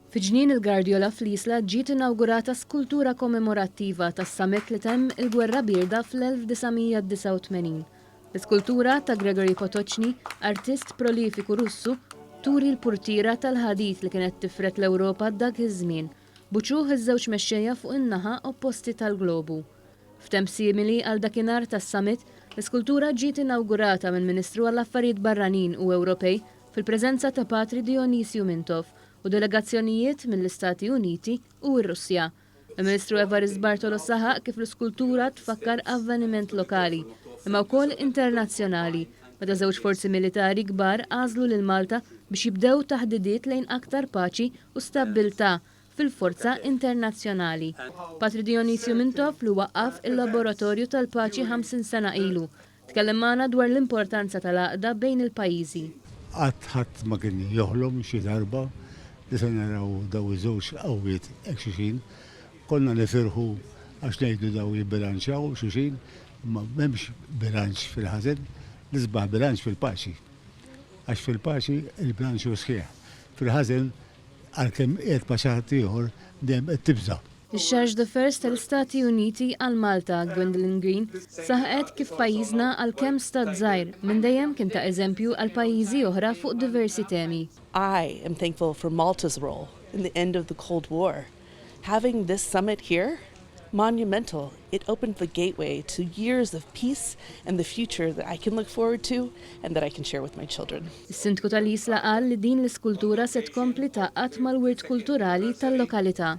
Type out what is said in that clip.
Fi Ġnien il-Gardjola fl-Isla ġiet inawgurata skultura kommemorattiva tas-summit li temm il-Gwerra Bierda fl-1989. L-iskultura ta' Gregory Potoczny, artist prolifiku Russu, turi l-purtiera tal-ħadid li kienet tifred l-Ewropa dak iż-żmien, Buċuh iż-żewġ mexxejja fuq in-naħa opposti tal-globu. F'temp simili għal dakinhar tas-summit, l-iskultura ġiet inawgurata mill-Ministru għall-Affarijiet Barranin u Ewropej fil-preżenza ta' Patri Dionysio Mintoff u delegazzjonijiet mill-Istati Uniti u r-Russja. Il-Ministru Evarist Bartolo saħaq kif l-iskultura tfakkar avveniment lokali, imma wkoll internazzjonali, Meta żewġ forzi militari kbar għażlu lil Malta biex jibdew taħdidiet lejn aktar paċi u stabbiltà fil-forza internazzjonali. Patri Dionizio Mintoff li waqqaf il-Laboratorju tal-Paċi 50 sena ilu, tkellem magħna dwar l-importanza tal-għaqda bejn il-pajjiżi. Qatt ħadd ma kien joħlom xi darba li se naraw dawn iż-żewġ qawwiet hekk xulxin. Konna nifirħu għax ngħidu dawn jibbilanċjaw xuxin. Imma m'hemmx bilanċ fil-ħażen, l-isbaħ bilanċ fil-paċi. Għax fil-paċi l-bilanċ hu sħiħ. Fil-ħażen, għalkemm qiegħed ma' xi ħadd ieħor, dejjem qed tibża'. Ix-Charge d'Affaires tal-Istati Uniti għal Malta, Gwendolyn Green, saħqet kif pajjiżna, għalkemm stat żgħir, minn dejjem kien ta' eżempju għal pajjiżi oħra fuq diversi temi. I am thankful for Malta's role in the end of the Cold War. Having this summit here, monumental, it opened the gateway to years of peace and the future that I can look forward to and that I can share with my children. Is-Sindku tal-Isla qal li din l-iskultura se tkompli tgħaqqad mal-wirt kulturali tal-lokalità.